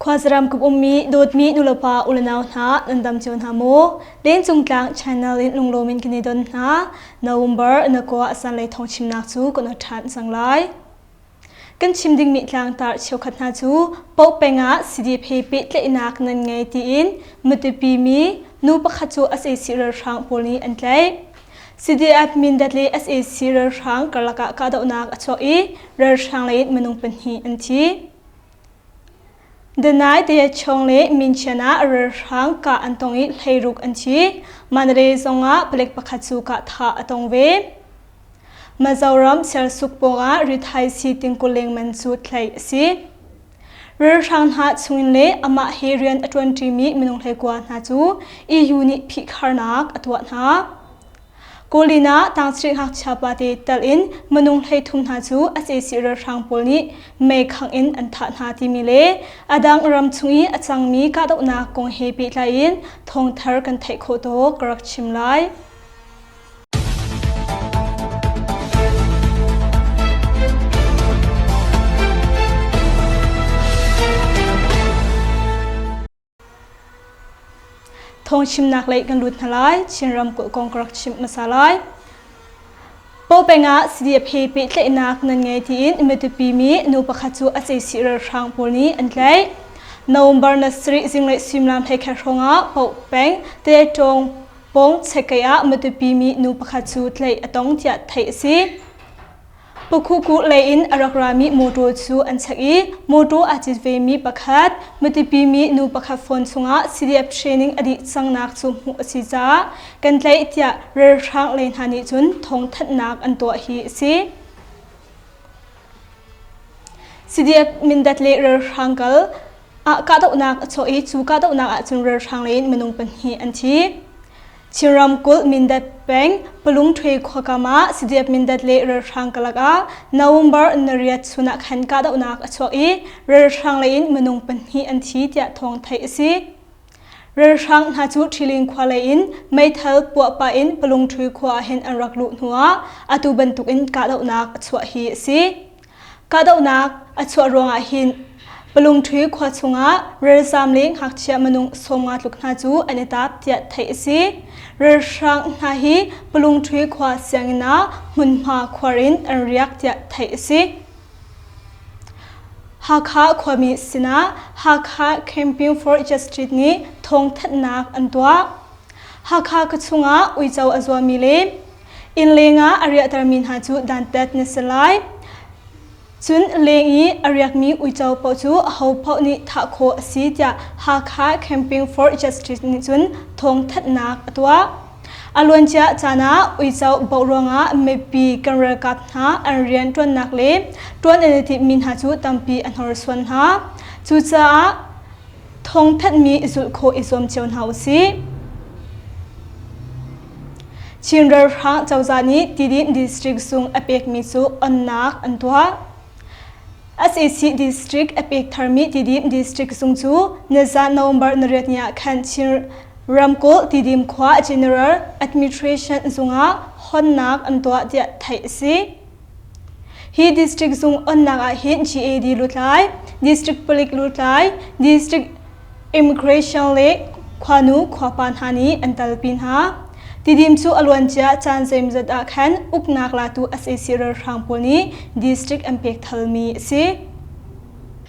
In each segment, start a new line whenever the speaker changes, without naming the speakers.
Khuazaram kum ummi dawtmi nulepa ulenau hna nan dam cio hna maw? Lencung tlang Channel in lunglaw min kan i don hna. November na kua asan lei thong chimnak cu kan ṭhan sang lai. Kan chim dingmi tlangtar cheukhat hna cu po peng ah sidip he pehtlaihnak nan ngei tiin matupi mi nu pakhat cu sac ralhrang pawl nih an tlaih. Sidi admin dat le sac ralhrang karlak ah kahdohnak a chuak i ralhrang lei in minung pahnih an thi. Danaite chung le Minchen ah ralhrang kah an tong i hleiruk an thi. Manre zong ah palek pakhat cu kah thah a tong ve. Mizoram sersuuk pawngah rithaisii tingkul lengman cu tlaih a si. Ralhrang hna chungin le amah he rian a ṭuanṭimi minung hlekua hna cu EU nih phihkharnak a tuah hna. Kawlin ah tangchiri ngakchia pate tal in minung hleithum hna cu a cesi ralhrang pawl nih meikhangh in an thah hna timi le a dang ram chung i a cangmi kahdohnak kong he pehtlai in thawngthar kan theih khawh tawk ka rak chim lai. Thong chimnak lei kan lut hna lai. Chinram kulh kong ka rak chim hmasa lai. Popeng ah CDF he pehtlaihnak nan ngei tiin Matupi mi nu pakhat cu a ceisi ralhrang pawl nih an tlaih. November na sarih zinglei suimilam he khat hrawng ah Popeng Tettong pong Chekkei ah Matupi mi nu pakhat cu tlaih a tong tiah theih a si. Pukhukuh leiin a rak rami motor cu an chak i motor aa cit vemi pakhat, mitipimi nu pakhat phone chungah CDF training a dih cangnak cu hmuh a si caah kan tlaih tiah ralhrang lei hna nih cun thawngthanhnak an tuah hi a si. CDF Mindat le ralhrang kal ah kahdohnak a chuah i cu kahdohnak ahcun ralhrang leiin minung pahnih an thi. Chin ramkulh Mindat peng Palungṭhwe khua kam ah Sadiap Mindat le ralhrang karlak ah November nariat chun ah khan kahdohnak a chuak i ralhrang leiin minung pahnih an thi tiah thawng theih a si. Ralhrang hna cu Ṭhiling khua leiin meithal puah pah in Palungṭhwe khua ahhin an rak luh hnuah atu bantukin kahdohnak a chuah hi a si. Kahdohnak a chuah ruangah hin Palungṭhi khua chungah ralzaam le ngakchia minung sawmnga tluk hna cu an i tap tiah theih a si. Ralhrang hna hi Palungṭhi khua sianginn ah hmunhma khuar in an riak tiah theih a si. Hakha khuami sinah Hakha Camping for Justice nih thawngthanhnak an tuah. Hakha ka chungah uico a zuami le Inn lengah a riahtermi hna cu dantat na si lai. Cun leng i a riakmi uico paoh cu ahopaoh nih thah khawh a si tiah Hakha Camping for Justice nih cun thawngthanhnak a tuah. A luancia caan ah uico boh ruangah mipi kan ralkap hna an rian ṭuannak le ṭuan an i timhmi hna cu tampi a hnorsuan hna. Cucaah thawngthanhmi zulh khawh i zuam cio hna u sih. Chin ralhrang cozah nih Tidin district sung a pekmi cu onnak an tuah. SAC district a pek tharmi Tidin district sung cu nizan November nariat ni ah khan Chin ramkulh Tidim khua general administration zung ah honnak an tuah tiah theih a si. Hi district zung onnak ah hin GAD lutlai, district palik lutlai, district immigration le khuanu khuapa hna nih an talpi hna. Tidim cu a luancia caan zeimzat ah khan uknak latu sac ralhrang pawl nih district an pek thalmi a si.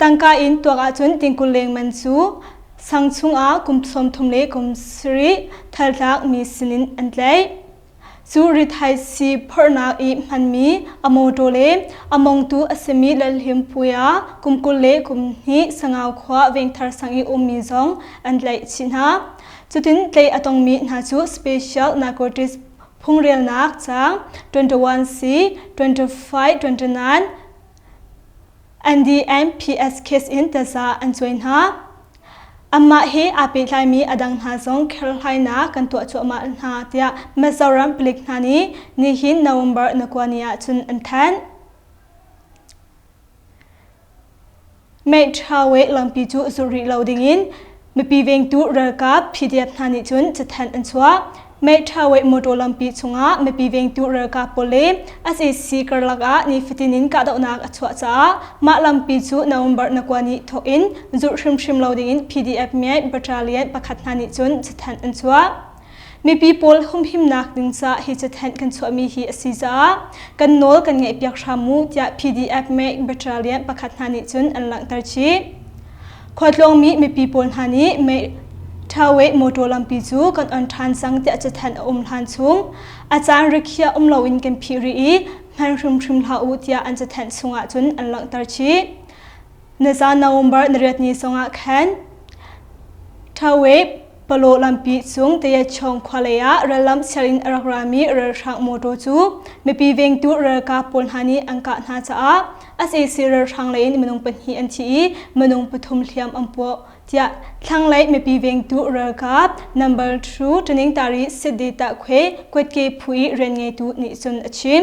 tangka in tuak ahcun tingkul lengman cu sang chungah kum sawmthum le kum sarih thaltlak mi sinin an tlaih. Cu rithaisi phorhnak i hmanmi a mawṭaw le a mongtu a simi lalhlimpui ah kum kul le kum hnih sangau khua vengthar sang i ummi zong an tlaih chih hna. Cutin tlaih a tongmi hna cu special narcotics phungrialnak caang 21C, 25, 29, An DMPS case in taza an cuai hna. Amah he aa pehtlaimi a dang hna zong kherhlainak kan tuah cuahmah hna tiah Mizoram palik hna nih nihin November na kua ni ahcun an thanh. Meihṭhau i lampi cu zul rih lo dingin mipi vengtu ralkap PDF hna nih cun cathanh an chuah. Meihṭhau i motor lampi chungah mipi vengtu ralkap pawl le a cc karlak ah nifatin in kahdohnak a chuah caah mah lampi cu November na kua ni thawk in zulh hrimhrim lo dingin PDF miai battalion pakhat hna nih cun cathanh an chuah. Mipi pawl humhimnak ding ca hi cathenh kan chuahmi hi a si caah kan nawl kan ngaihpiak hram mu tiah PDF Make Battalion pakhat hna nih cun an langhter chih. Khualtlawngmi mipi pawl hna nih Make Thawe motor lampi cu kan on ṭhan cang tiah cathenh a um hlan chung a caan rikhiah um loin kan phih rih i hman hrimhrim hlah u tiah an cathenh chungah cun an langhter chih. na caan November na riat ni sawngah khan Thawep Palaw lampi chung Tayachong khualei ah rallam sianginn a rak rami ralhrang motor cu mipi vengtu ralkap pawl hna nih an kah hna caah sac ralhrang lei in minung pahnih an thi i minung pathum hliam an puah tiah thlanglei mipi vengtu ralkap number two tuning tari Siddhartha Khwe Kwetke Phui rian ngeitu nih cun a chim.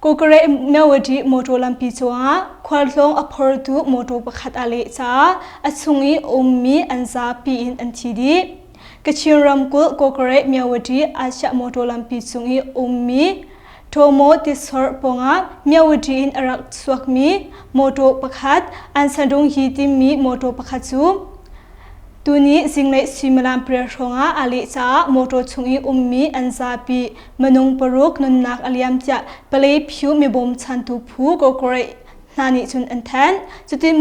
Kokare Nawati motor lampi cungah khualtlawng a phortu motor pakhat a leh caah a chung i ummi an zapi in an thi dih. Kachin ramkulh Kokare Myawati Asia motor lampi chung i ummi Tomo Tisor pawngah Myawati in a rak chuakmi motor pakhat Ansanrung hi tinmi motor pakhat cu tuni zinglei suimilam pariat hrawngah a leh caah motor chung i ummi an zapi Manung paruk nunnak a liam ciah palei phu mi bawmchantu phu ko kore hna nih cun an then cutin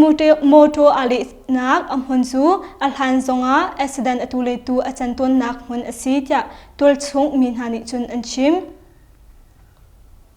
motor a lehnak a hmun cu a hlan zongah accident atu letu a can tawnnak hmun a si tiah tualchung mi hna nih cun an chim.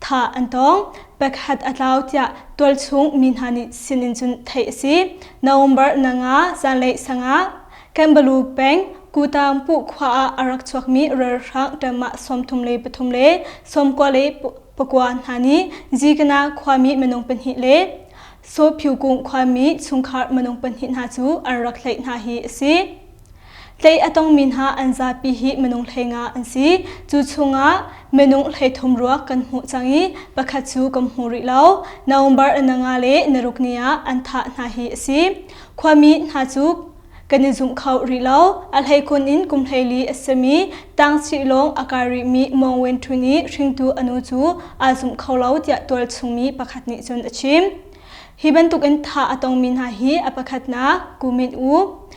thah an tawng pakhat a tlau tiah tualchung mi hna nih sinin cun theih a si November nanga zanlei sanga Kambalu peng Kutangpu khua ah a rak chuakmi ralhrang ṭamah sawmthum le pathum le sawmkua le pakua hna nih Zikana khuami minung pahnih le Sophyukung khuami chungkhar minung pahnih hna cu an rak tlaih hna hi a si. Hlei a tongmi hna an zapi hi minung hleinga an si. Cu chungah minung hleithum ruak kan hmuh cang i pakhat cu kan hmu rih lo. November na nga le naruk ni ah an thah hna hi a si. Khuami hna cu kan i zumh kho rih lo. A hleikun in kum hleili a sami tangchih lawng a kai rihmi Mong Wen Htun i hringtu a nu cu aa zumh kho lo tiah tualchungmi pakhat nih cun a chim. Hi bantukin thah a tongmi hna hi a pakhatnak Kumin U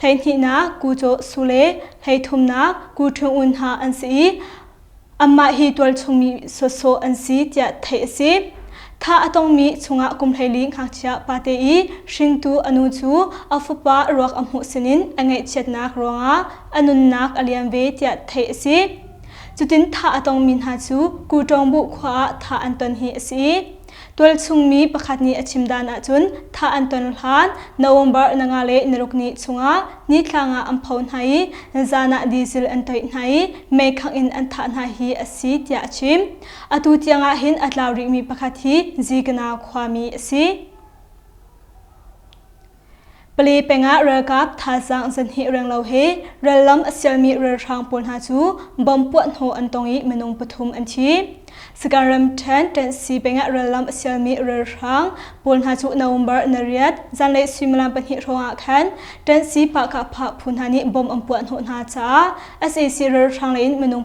Hleihnihnak kucaw su le hleithumnak ku ṭhingul hna an si i anmah hi tualchungmi sawsawh an si tiah theih a si. Thah a tongmi chungah kum hleili ngakchia pate i hringtu a nu cu a fapa ruak a hmuh sinin a ngaihchiatnak ruangah a nunnak a liam ve tiah theih a si. Cutin thah a tongmi hna cu Kuṭawng Buh khua ah thah an ton hi a si i tualchungmi pakhat nih a chim dan ahcun thah an ton hlan November na nga le naruk ni chungah nithlang ah an pho hna i zan ah diesel an toih hna i meikhangh in an thah hna hi a si tiah a chim atu tiang ah hin a tlau rihmi pakhat hi Zigana khuami a si Pali pengah ralkap thazaang zan hnih renglo he rallam a sialmi ralhrang pawl hna cu bom puah hnawh an tong i minung pathum an thi. Sakae ramṭhen Ṭensi pengah rallam a sialmi ralhrang pawl hna cu November nariat zanlei suimilam pahnih hrawngah khan Ṭensi Pahkah Phah phu hna nih bom an puah hnawh hna caah SAC ralhrang leiin minung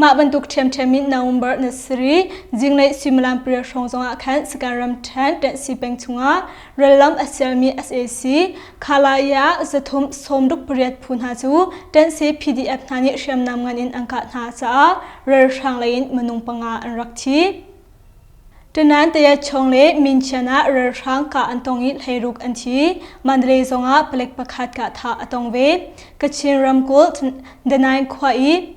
Mah bantuk ṭhiamṭhiam in na um barh na si rih. Zinglei suimilam pariat hrawng zongah khan Sagaing ram ṭhen Ṭanh Si peng chungah rallam a sialmi sac Khalai ah zathum sawmruk pariat phu hna cu Ṭanh Si PDF hna nih hriamnam ngan in an kah hna caah ralhrang lei in minung panga an rak thi. Tunan Tayachong le Minchian ah ralhrang kah an tong i hleiruk an thi. Mandalay zong ah palek pakhat kah thah a tong ve. Kachin ramkulh Danang khua i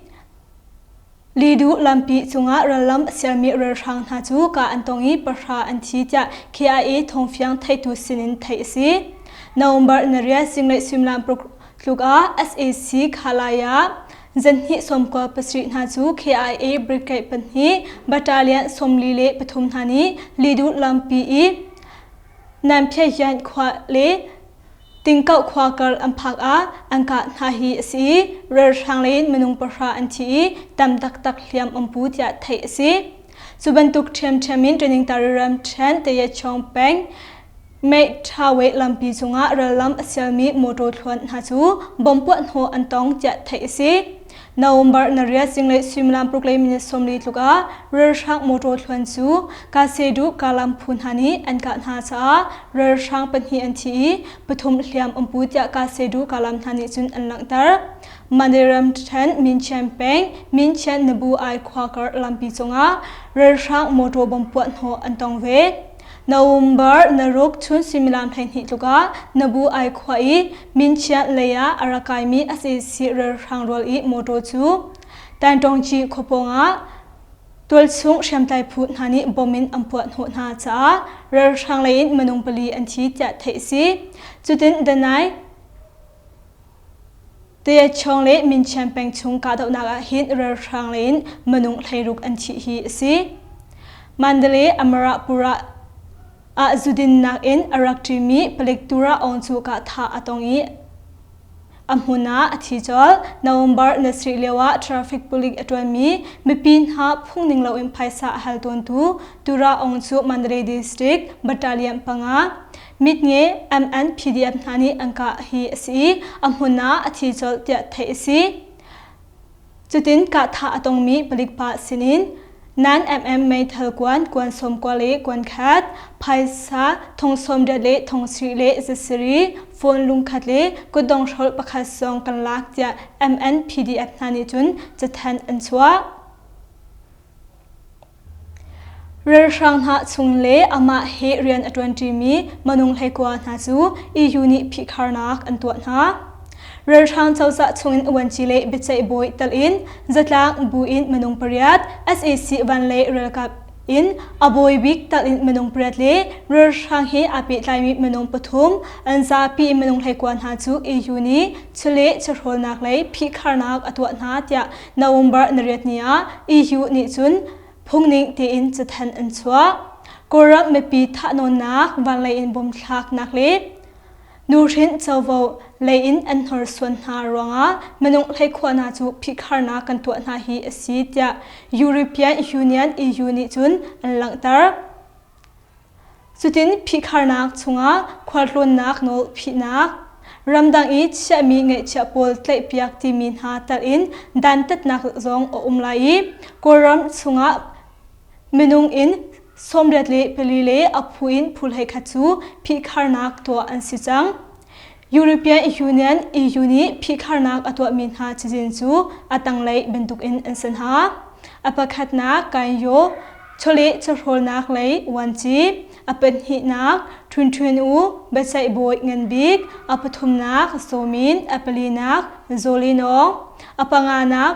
Lidu lampi cungah rallam a sialmi ralhrang hna cu kah an tong i pahra an thi tiah KIA thawngfiang theitu sinin theih a si. November nariah zinglei suimilam paruk tluk ah SAC Khalaya Zanhnih sawmkua pasarih hna cu KIA Brigade pahnih battalion sawmli le pathum hna nih Lidut lampi i Nanphyayant khua le Tingkau khua kar an phak ah an kah hna hi a si i ralhrang lei in minung pahra an thi i tam taktak hliam um pu tiah theih a si. Cu bantuk ṭhiamṭhiam in training tariram ṭhen Tayet Chong Peng Meitha weh lampi chungah rallam a sialmi motor thluan hna cu bom puah hnawh an tong tiah theih a si. November nariat zinglei suimilam paruk mini sawmli tluk ah ralhrang motor thluan cu Kasedu Kalam phu hna nih an kah hna caah ralhrang pahnih an thi i pathum hliam um pu tiah Kasedu Kalam hna nih cun an langhter. Mandiram Ṭhen Minchian peng Minchian Nabu Ai khua kar lampi cungah ralhrang motor bom puah hnawh an tong ve. Na um barh na ruk chun suimilam hleihnih tlukah na bu ai khua i minchiah lei ah a ra kaimi a ceci ralhrang rual i motor cu Tantawngci khuapawng ah tualchung hriamtlai phu hna nih bom in an puah hnawh hna caah ralhrang lei in minung pali an thi tiah theih a si. Cutin Danai Teachuang le Minchian peng chung kahdohnak ahhin ralhrang lei in minung hleiruk an thih hi a si. Mandalay Amarapura ah zudinnak in a rak ṭimi Palettura awng cu kahthah a tong i a hmun ah a thi colh. November ni sarih lioah traffic police a ṭuanmi mipi hna phungning loin phaisa a hal tawntu Tura awng cu Mandalay district battalion panga mit nge MN PDF hna nih an kah hi a si i a hmun ah a thi colh tiah theih a si. Cutin kahthah a tongmi palik pa sinin nan MM meithal kuan kuan sawm kua le kuan khat phaisa thong sawm riat le thong sri le zasiri phone lungkhat le kutdong hrol pakhat zong kan lak tiah MN PDF hna nih cun cathen an chuah. Ralhrang hna chung le amah he rian a ṭuanṭimi minung hleikua hna cu EU nih phihkharnak an tuah hna. Ralhrang cozah chungin uanci le biaceih bawi tal in zatlang buin minung pariat sac van le ralkap in a bawi bik tal in minung pariat le ralhrang he aa pehtlaimi minung pathum an zapi minung hleikua hna cu EU nih chule chawhrawlnak lei phihkharnak a tuah hna tiah November nariatni ah EU nih cun phungning tein cathan an chuah. Kawlram mipi thahnawnnak vanlei in bom thlaknak le nuhrin covo lei in an hnorsuan hna ruangah minung hleikhuahnak cu phihkharnak kan tuah hna hi a si tiah European Union EU nih cun an langhter. Cutin phihkharnak chungah khualtlawnnak nawl phihnak, ramdang i chiahmi ngeihchiah pawl tlaihpiak timi hna telin dantatnak zong a um lai i Kawlram chungah minung in sawmriat le pali le a phu in phu hleikhat cu phihkharnak tuah an si cang. European Union EU nih phihkharnak a tuahmi hna cazin cu a tanglei bantukin an san hna. A pakhatnak Kanyo chawleh chawhrawlnak lei vuanci, a pahnihnak Ṭhunṭhun U biaceihbawi ngan bik, a pathumnak Sawmin, a palinak Zawlinawng, a panganak